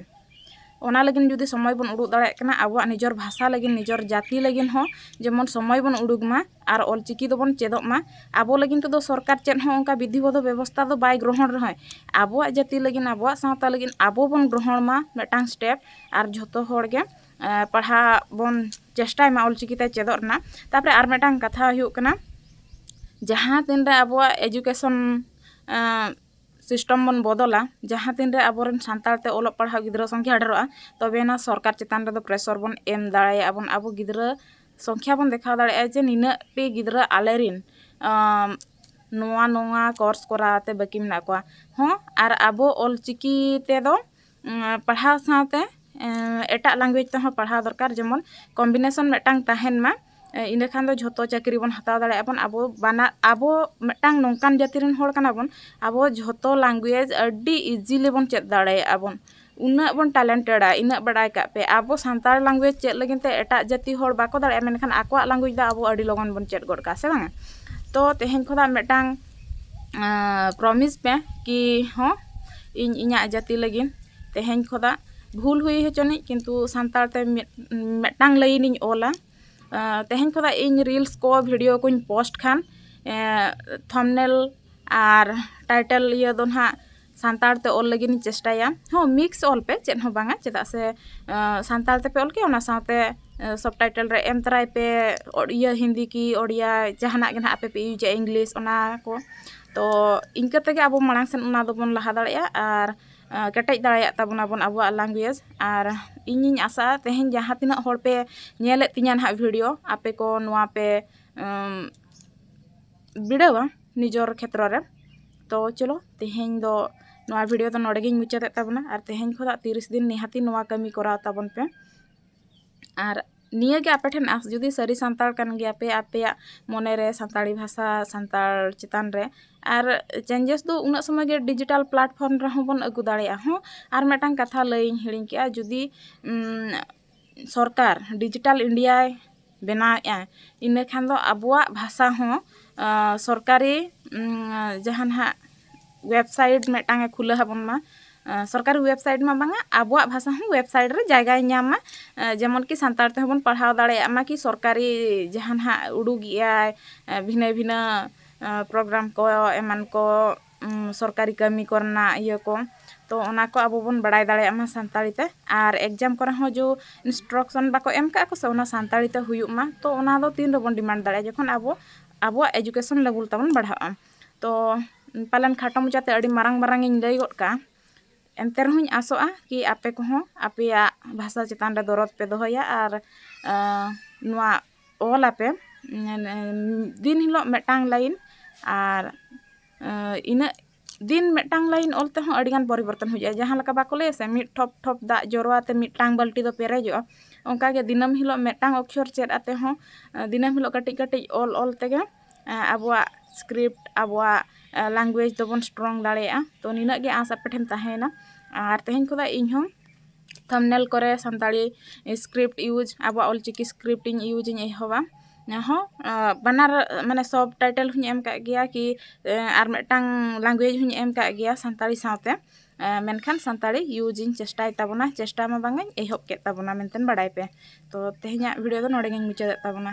ᱚᱱᱟ ᱞᱟᱹᱜᱤᱫ ᱡᱩᱫᱤ ᱥᱚᱢᱚᱭ ᱵᱚᱱ ᱩᱰᱩᱠ ᱫᱟᱲᱮᱭᱟᱜ ᱠᱟᱱᱟ ᱟᱵᱚᱣᱟᱜ ᱱᱤᱡᱮᱨ ᱵᱷᱟᱥᱟ ᱞᱟᱹᱜᱤᱫ ᱱᱤᱡᱮᱨ ᱡᱟᱹᱛᱤ ᱞᱟᱹᱜᱤᱫ ᱦᱚᱸ ᱡᱮᱢᱚᱱ ᱥᱚᱢᱚᱭ ᱵᱚᱱ ᱩᱰᱩᱠ ᱢᱟ ᱟᱨ ᱚᱞ ᱪᱤᱠᱤ ᱫᱚᱵᱚᱱ ᱪᱮᱫᱚᱜ ᱢᱟ ᱟᱵᱚ ᱞᱟᱹᱜᱤᱫ ᱛᱮᱫᱚ ᱥᱚᱨᱠᱟᱨ ᱪᱮᱫ ᱦᱚᱸ ᱚᱱᱠᱟ ᱵᱤᱫᱷᱤ ᱵᱚᱫᱷᱚ ᱵᱮᱵᱚᱥᱛᱷᱟ ᱫᱚ ᱵᱟᱭ ᱜᱨᱚᱦᱚᱱ ᱨᱮᱦᱚᱸᱭ ᱟᱵᱚᱣᱟᱜ ᱡᱟᱹᱛᱤ ᱞᱟᱹᱜᱤᱫ ᱟᱵᱚᱣᱟᱜ ᱥᱟᱶᱛᱟ ᱞᱟᱹᱜᱤᱫ ᱟᱵᱚ ᱵᱚᱱ ᱜᱨᱚᱦᱚᱱ ᱢᱟ ᱢᱤᱫᱴᱟᱝ ᱥᱴᱮᱯ ᱟᱨ ᱡᱷᱚᱛᱚ ᱦᱚᱲ ᱜᱮ ᱯᱟᱲᱦᱟᱜ ᱵᱚᱱ ᱪᱮᱥᱴᱟᱭ ᱢᱟ ᱚᱞ ᱪᱤᱠᱤ ᱛᱮ ᱪᱮᱫᱚᱜ ᱨᱮᱱᱟᱜ ᱛᱟᱨᱯᱚᱨᱮ ᱟᱨ ᱢᱤᱫᱴᱟᱝ ᱠᱟᱛᱷᱟ ᱦᱩᱭᱩᱜ ᱠᱟᱱᱟ ᱡᱟᱦᱟᱸ ᱛᱤᱱ ᱨᱮ ᱟᱵᱚᱣᱟᱜ ᱮᱰᱩᱠᱮᱥᱚᱱ ᱥᱤᱥᱴᱚᱢ ᱵᱚᱱ ᱵᱚᱫᱚᱞᱟ ᱡᱟᱦᱟᱸ ᱛᱤᱱ ᱨᱮ ᱟᱵᱚ ᱨᱮᱱ ᱥᱟᱱᱛᱟᱲ ᱛᱮ ᱚᱞᱚᱜ ᱯᱟᱲᱦᱟᱣ ᱜᱤᱫᱽᱨᱟᱹ ᱥᱚᱝᱠᱷᱟ ᱰᱷᱮᱨᱚᱜᱼᱟ ᱛᱚᱵᱮ ᱟᱱᱟᱜ ᱥᱚᱨᱠᱟᱨ ᱪᱮᱛᱟᱱ ᱨᱮᱫᱚ ᱯᱨᱮᱥᱚᱨ ᱵᱚᱱ ᱮᱢ ᱫᱟᱲᱮᱭᱟᱜᱼᱟ ᱵᱚᱱ ᱟᱵᱚ ᱜᱤᱫᱽᱨᱟᱹ ᱥᱚᱝᱠᱷᱟ ᱵᱚᱱ ᱫᱮᱠᱷᱟᱣ ᱫᱟᱲᱮᱭᱟᱜᱼᱟ ᱡᱮ ᱱᱤᱱᱟᱹᱜ ᱴᱤ ᱜᱤᱫᱽᱨᱟᱹ ᱟᱞᱮ ᱨᱮᱱ ᱱᱚᱣᱟ ᱱᱚᱣᱟ ᱠᱳᱨᱥ ᱠᱚᱨᱟᱣ ᱛᱮ ᱵᱟᱹᱠᱤ ᱢᱮᱱᱟᱜ ᱠᱚᱣᱟ ᱦᱚᱸ ᱟᱨ ᱟᱵᱚ ᱚᱞ ᱪᱤᱠᱤ ᱛᱮᱫᱚ ᱯᱟᱲᱦᱟᱣ ᱥᱟᱶᱛᱮ ᱮᱴᱟᱜ ᱞᱮᱝᱜᱩᱭᱮᱡᱽ ᱛᱮᱦᱚᱸ ᱯᱟᱲᱦᱟᱣ ᱫᱚᱨᱠᱟᱨ ᱡᱮᱢᱚᱱ ᱠᱚᱢᱵᱤᱱᱮᱥᱚᱱ ᱢᱤᱫᱴᱟᱝ ᱛᱟᱦᱮᱱ ᱢᱟ ᱤᱱᱟᱹ ᱠᱷᱟᱱ ᱫᱚ ᱡᱷᱚᱛᱚ ᱪᱟᱹᱠᱨᱤ ᱵᱚᱱ ᱦᱟᱛᱟᱣ ᱫᱟᱲᱮᱭᱟᱜᱼᱟ ᱵᱚᱱ ᱟᱵᱚ ᱵᱟᱱᱟᱨ ᱟᱵᱚ ᱢᱤᱫᱴᱟᱝ ᱱᱚᱝᱠᱟᱱ ᱡᱟᱹᱛᱤ ᱨᱮᱱ ᱦᱚᱲ ᱠᱟᱱᱟ ᱵᱚᱱ ᱟᱵᱚ ᱡᱷᱚᱛᱚ ᱞᱮᱝᱜᱩᱭᱮᱡᱽ ᱟᱹᱰᱤ ᱤᱡᱤᱞᱤ ᱵᱚᱱ ᱪᱮᱫ ᱫᱟᱲᱮᱭᱟᱜᱼᱟ ᱵᱚᱱ ᱩᱱᱟᱹᱜ ᱵᱚᱱ ᱴᱮᱞᱮᱱᱴᱮᱰᱼᱟ ᱤᱱᱟᱹᱜ ᱵᱟᱲᱟᱭ ᱠᱟᱜ ᱯᱮ ᱟᱵᱚ ᱥᱟᱱᱛᱟᱲ ᱞᱮᱝᱜᱩᱭᱮᱡᱽ ᱪᱮᱫ ᱞᱟᱹᱜᱤᱫ ᱛᱮ ᱮᱴᱟᱜ ᱡᱟᱹᱛᱤ ᱦᱚᱲ ᱵᱟᱠᱚ ᱫᱟᱲᱮᱭᱟᱜᱼᱟ ᱢᱮᱱᱠᱷᱟᱱ ᱟᱠᱚᱣᱟᱜ ᱞᱮᱝᱜᱩᱭᱮᱡᱽ ᱫᱚ ᱟᱵᱚ ᱟᱹᱰᱤ ᱞᱚᱜᱚᱱ ᱵᱚᱱ ᱪᱮᱫ ᱜᱚᱫ ᱠᱟᱜᱼᱟ ᱥᱮ ᱵᱟᱝᱼᱟ ᱛᱚ ᱛᱮᱦᱮᱧ ᱠᱷᱚᱱᱟᱜ ᱢᱤᱫᱴᱟᱝ ᱯᱨᱚᱢᱤᱥ ᱯᱮ ᱠᱤ ᱦᱚᱸ ᱤᱧ ᱤᱧᱟᱹᱜ ᱡᱟᱹᱛᱤ ᱞᱟᱹᱜᱤᱫ ᱛᱮᱦᱮᱧ ᱠᱷᱚᱱᱟᱜ ᱵᱷᱩᱞ ᱦᱩᱭ ᱦᱚᱪᱚᱱᱤᱡ ᱠᱤᱱᱛᱩ ᱥᱟᱱᱛᱟᱲ ᱛᱮ ᱢᱤᱫᱴᱟᱝ ᱞᱟᱹᱭᱤᱱᱤᱧ ᱚᱞᱟ ᱛᱮᱦᱮᱧ ᱠᱷᱚᱱᱟᱜ ᱤᱧ ᱨᱤᱞᱥ ᱠᱚ ᱵᱷᱤᱰᱤᱭᱳ ᱠᱚᱧ ᱯᱳᱥᱴ ᱠᱷᱟᱱ ᱛᱷᱟᱢᱵᱽᱱᱮᱞ ᱟᱨ ᱴᱟᱭᱴᱮᱞ ᱤᱭᱟᱹ ᱫᱚ ᱦᱟᱸᱜ ᱥᱟᱱᱛᱟᱲ ᱛᱮ ᱚᱞ ᱞᱟᱹᱜᱤᱫ ᱤᱧ ᱪᱮᱥᱴᱟᱭᱟ ᱦᱚᱸ ᱢᱤᱠᱥ ᱚᱞ ᱯᱮ ᱪᱮᱫ ᱦᱚᱸ ᱵᱟᱝᱟ ᱪᱮᱫᱟᱜ ᱥᱮ ᱥᱟᱱᱛᱟᱲ ᱛᱮᱯᱮ ᱚᱞ ᱠᱮᱜᱼᱟ ᱚᱱᱟ ᱥᱟᱶᱛᱮ ᱥᱚᱵ ᱴᱟᱭᱴᱮᱞ ᱨᱮ ᱮᱢ ᱛᱚᱨᱟᱭ ᱯᱮ ᱤᱭᱟᱹ ᱦᱤᱱᱫᱤ ᱠᱤ ᱳᱰᱤᱭᱟ ᱡᱟᱦᱟᱱᱟᱜ ᱜᱮ ᱦᱟᱸᱜ ᱟᱯᱮ ᱯᱮ ᱤᱭᱩᱡᱟ ᱤᱝᱞᱤᱥ ᱚᱱᱟ ᱠᱚ ᱛᱚ ᱤᱱᱠᱟᱹ ᱛᱮᱜᱮ ᱟᱵᱚ ᱢᱟᱲᱟᱝ ᱥᱮᱫ ᱚᱱᱟ ᱫᱚᱵᱚᱱ ᱞᱟᱦᱟ ᱫᱟᱲᱮᱭᱟᱜᱼᱟ ᱟᱨ ᱠᱮᱴᱮᱡ ᱫᱟᱲᱮᱭᱟᱜ ᱛᱟᱵᱚᱱᱟ ᱵᱚᱱ ᱟᱵᱚᱣᱟᱜ ᱞᱮᱝᱜᱩᱭᱮᱡᱽ ᱟᱨ ᱤᱧᱤᱧ ᱟᱥᱟᱜᱼᱟ ᱛᱮᱦᱮᱧ ᱡᱟᱦᱟᱸ ᱛᱤᱱᱟᱹᱜ ᱦᱚᱲ ᱯᱮ ᱧᱮᱞᱮᱫ ᱛᱤᱧᱟᱹ ᱦᱟᱸᱜ ᱵᱷᱤᱰᱤᱭᱳ ᱟᱯᱮ ᱠᱚ ᱱᱚᱣᱟ ᱯᱮ ᱵᱤᱲᱟᱹᱣᱟ ᱱᱤᱡᱚᱨ ᱠᱷᱮᱛᱨᱚ ᱨᱮ ᱛᱚ ᱪᱚᱞᱚ ᱛᱮᱦᱮᱧ ᱫᱚ ᱱᱚᱣᱟ ᱵᱷᱤᱰᱤᱭᱳ ᱫᱚ ᱱᱚᱰᱮ ᱜᱤᱧ ᱢᱩᱪᱟᱹᱫᱮᱫ ᱛᱟᱵᱚᱱᱟ ᱟᱨ ᱛᱮᱦᱮᱧ ᱠᱷᱚᱱᱟᱜ ᱛᱤᱨᱤᱥ ᱫᱤᱱ ᱱᱤᱦᱟᱹᱛᱤ ᱱᱚᱣᱟ ᱠᱟᱹᱢᱤ ᱠᱚᱨᱟᱣ ᱛᱟᱵᱚᱱ ᱯᱮ ᱟᱨ ᱱᱤᱭᱟᱹᱜᱮ ᱟᱯᱮ ᱴᱷᱮᱱ ᱟᱥ ᱡᱩᱫᱤ ᱥᱟᱹᱨᱤ ᱥᱟᱱᱛᱟᱲ ᱠᱟᱱ ᱜᱮᱭᱟᱯᱮ ᱟᱯᱮᱭᱟᱜ ᱢᱚᱱᱮᱨᱮ ᱥᱟᱱᱛᱟᱲᱤ ᱵᱷᱟᱥᱟ ᱥᱟᱱᱛᱟᱲ ᱪᱮᱛᱟᱱ ᱨᱮ ᱟᱨ ᱪᱮᱧᱡᱮᱥ ᱫᱚ ᱩᱱᱟᱹᱜ ᱥᱚᱢᱚᱭ ᱜᱮ ᱰᱤᱡᱤᱴᱟᱞ ᱯᱞᱟᱴᱯᱷᱚᱨᱢ ᱨᱮᱦᱚᱸ ᱵᱚᱱ ᱟᱹᱜᱩ ᱫᱟᱲᱮᱭᱟᱜᱼᱟ ᱦᱚᱸ ᱟᱨ ᱢᱤᱫᱴᱟᱝ ᱠᱟᱛᱷᱟ ᱞᱟᱹᱭᱤᱧ ᱦᱤᱲᱤᱧ ᱠᱮᱜᱼᱟ ᱡᱩᱫᱤ ᱥᱚᱨᱠᱟᱨ ᱰᱤᱡᱤᱴᱟᱞ ᱤᱱᱰᱤᱭᱟᱭ ᱵᱮᱱᱟᱣᱮᱫᱼᱟ ᱤᱱᱟᱹ ᱠᱷᱟᱱ ᱫᱚ ᱟᱵᱚᱣᱟᱜ ᱵᱷᱟᱥᱟ ᱦᱚᱸ ᱥᱚᱨᱠᱟᱨᱤ ᱡᱟᱦᱟᱸ ᱱᱟᱜ ᱳᱭᱮᱵᱽᱥᱟᱭᱤᱴ ᱢᱤᱫᱴᱟᱝ ᱮ ᱠᱷᱩᱞᱟᱹᱣ ᱟᱵᱚᱱ ᱢᱟ ᱥᱚᱨᱠᱟᱨᱤ ᱳᱭᱮᱵᱽᱥᱟᱭᱤᱴ ᱢᱟ ᱵᱟᱝᱟ ᱟᱵᱚᱣᱟᱜ ᱵᱷᱟᱥᱟ ᱦᱚᱸ ᱳᱭᱮᱵᱽᱥᱟᱭᱤᱴ ᱨᱮ ᱡᱟᱭᱜᱟᱭ ᱧᱟᱢ ᱢᱟ ᱡᱮᱢᱚᱱ ᱠᱤ ᱥᱟᱱᱛᱟᱲ ᱛᱮᱦᱚᱸ ᱵᱚᱱ ᱯᱟᱲᱦᱟᱣ ᱫᱟᱲᱮᱭᱟᱜ ᱢᱟ ᱠᱤ ᱥᱚᱨᱠᱟᱨᱤ ᱡᱟᱦᱟᱸ ᱱᱟᱜ ᱩᱰᱩᱠᱮᱫᱼᱟᱭ ᱵᱷᱤᱱᱟᱹ ᱵᱷᱤᱱᱟᱹ ᱯᱨᱳᱜᱨᱟᱢ ᱠᱚ ᱮᱢᱟᱱ ᱠᱚ ᱥᱚᱨᱠᱟᱨᱤ ᱠᱟᱹᱢᱤ ᱠᱚᱨᱮᱱᱟᱜ ᱤᱭᱟᱹ ᱠᱚ ᱛᱚ ᱚᱱᱟ ᱠᱚ ᱟᱵᱚ ᱵᱚᱱ ᱵᱟᱲᱟᱭ ᱫᱟᱲᱮᱭᱟᱜ ᱢᱟ ᱥᱟᱱᱛᱟᱲᱤ ᱛᱮ ᱟᱨ ᱮᱠᱡᱟᱢ ᱠᱚᱨᱮ ᱦᱚᱸ ᱡᱮ ᱤᱱᱥᱴᱨᱚᱠᱥᱚᱱ ᱵᱟᱠᱚ ᱮᱢ ᱠᱟᱜ ᱠᱚᱥᱮ ᱚᱱᱟ ᱥᱟᱱᱛᱟᱲᱤ ᱛᱮ ᱦᱩᱭᱩᱜ ᱢᱟ ᱛᱚ ᱚᱱᱟ ᱫᱚ ᱛᱤᱱ ᱨᱮᱵᱚᱱ ᱰᱤᱢᱟᱱᱰ ᱫᱟᱲᱮᱭᱟᱜᱼᱟ ᱡᱚᱠᱷᱚᱱ ᱟᱵᱚ ᱟᱵᱚᱣᱟᱜ ᱮᱰᱩᱠᱮᱥᱚᱱ ᱞᱮᱵᱮᱞ ᱛᱟᱵᱚᱱ ᱵᱟᱲᱦᱟᱜᱼᱟ ᱛᱚ ᱯᱟᱞᱮᱱ ᱠᱷᱟᱴᱚ ᱢᱟᱪᱷᱟ ᱛᱮ ᱟᱹᱰᱤ ᱢᱟᱨᱟᱝ ᱢᱟᱨᱟᱝ ᱤᱧ ᱞᱟᱹᱭ ᱜᱚᱫ ᱠᱟᱜᱼᱟ ᱮᱱᱛᱮ ᱨᱮᱦᱚᱸᱧ ᱟᱥᱚᱜᱼᱟ ᱠᱤ ᱟᱯᱮ ᱠᱚᱦᱚᱸ ᱟᱯᱮᱭᱟᱜ ᱵᱷᱟᱥᱟ ᱪᱮᱛᱟᱱ ᱨᱮ ᱫᱚᱨᱚᱫ ᱯᱮ ᱫᱚᱦᱚᱭᱟ ᱟᱨ ᱱᱚᱣᱟ ᱚᱞ ᱟᱯᱮ ᱫᱤᱱ ᱦᱤᱞᱳᱜ ᱢᱤᱫᱴᱟᱝ ᱞᱟᱭᱤᱱ ᱟᱨ ᱤᱱᱟᱹᱜ ᱫᱤᱱ ᱢᱤᱫᱴᱟᱝ ᱞᱟᱭᱤᱱ ᱚᱞ ᱛᱮᱦᱚᱸ ᱟᱹᱰᱤ ᱜᱟᱱ ᱯᱚᱨᱤᱵᱚᱨᱛᱚᱱ ᱦᱩᱭᱩᱜᱼᱟ ᱡᱟᱦᱟᱸ ᱞᱮᱠᱟ ᱵᱟᱠᱚ ᱞᱟᱹᱭᱟ ᱥᱮ ᱢᱤᱫ ᱴᱷᱚᱯ ᱴᱷᱚᱯ ᱫᱟᱜ ᱡᱚᱨᱚ ᱟᱛᱮ ᱢᱤᱫᱴᱟᱝ ᱵᱟᱹᱞᱴᱤ ᱫᱚ ᱯᱮᱨᱮᱡᱚᱜᱼᱟ ᱚᱱᱠᱟ ᱜᱮ ᱫᱤᱱᱟᱹᱢ ᱦᱤᱞᱳᱜ ᱢᱤᱫᱴᱟᱝ ᱚᱠᱠᱷᱚᱨ ᱪᱮᱫ ᱟᱛᱮ ᱦᱚᱸ ᱫᱤᱱᱟᱹᱢ ᱦᱤᱞᱳᱜ ᱠᱟᱹᱴᱤᱡ ᱠᱟᱹᱴᱤᱡ ᱚᱞ ᱚᱞ ᱛᱮᱜᱮ ᱟᱵᱚᱣᱟᱜ ᱥᱠᱨᱤᱯᱴ ᱟᱵᱚᱣᱟᱜ ᱞᱮᱝᱜᱩᱭᱮᱡᱽ ᱫᱚᱵᱚᱱ ᱥᱴᱨᱚᱝ ᱫᱟᱲᱮᱭᱟᱜᱼᱟ ᱛᱳ ᱱᱤᱱᱟᱹᱜ ᱜᱮ ᱟᱸᱥ ᱟᱯᱮ ᱴᱷᱮᱱ ᱛᱟᱦᱮᱸᱭᱮᱱᱟ ᱟᱨ ᱛᱮᱦᱮᱧ ᱠᱷᱚᱱᱟᱜ ᱤᱧ ᱦᱚᱸ ᱛᱷᱟᱢᱱᱮᱞ ᱠᱚᱨᱮ ᱥᱟᱱᱛᱟᱲᱤ ᱤᱥᱠᱨᱤᱯᱴ ᱤᱭᱩᱡᱽ ᱟᱵᱚᱣᱟᱜ ᱚᱞ ᱪᱤᱠᱤ ᱤᱥᱠᱨᱤᱯᱴ ᱤᱧ ᱤᱭᱩᱡᱽ ᱤᱧ ᱮᱦᱚᱵᱟ ᱚᱱᱟᱦᱚᱸ ᱵᱟᱱᱟᱨ ᱢᱟᱱᱮ ᱥᱚᱵ ᱴᱟᱭᱴᱮᱞ ᱦᱚᱸᱧ ᱮᱢ ᱠᱟᱜ ᱜᱮᱭᱟ ᱠᱤ ᱟᱨ ᱢᱤᱫᱴᱟᱝ ᱞᱮᱝᱜᱩᱭᱮᱡᱽ ᱦᱚᱸᱧ ᱮᱢ ᱠᱟᱜ ᱜᱮᱭᱟ ᱥᱟᱱᱛᱟᱲᱤ ᱥᱟᱶᱛᱮ ᱢᱮᱱᱠᱷᱟᱱ ᱥᱟᱱᱛᱟᱲᱤ ᱤᱭᱩᱡᱽ ᱤᱧ ᱪᱮᱥᱴᱟᱭ ᱛᱟᱵᱚᱱᱟ ᱪᱮᱥᱴᱟ ᱢᱟ ᱵᱟᱝᱟᱹᱧ ᱮᱦᱚᱵ ᱠᱮᱜ ᱛᱟᱵᱚᱱᱟ ᱢᱮᱱᱛᱮ ᱵᱟᱲᱟᱭ ᱯᱮ ᱛᱚ ᱛᱮᱦᱮᱧᱟᱜ ᱵᱷᱤᱰᱤᱭᱳ ᱫᱚ ᱱᱚᱰᱮ ᱜᱤᱧ ᱢᱩᱪᱟᱹᱫ ᱮᱜ ᱛᱟᱵᱚᱱᱟ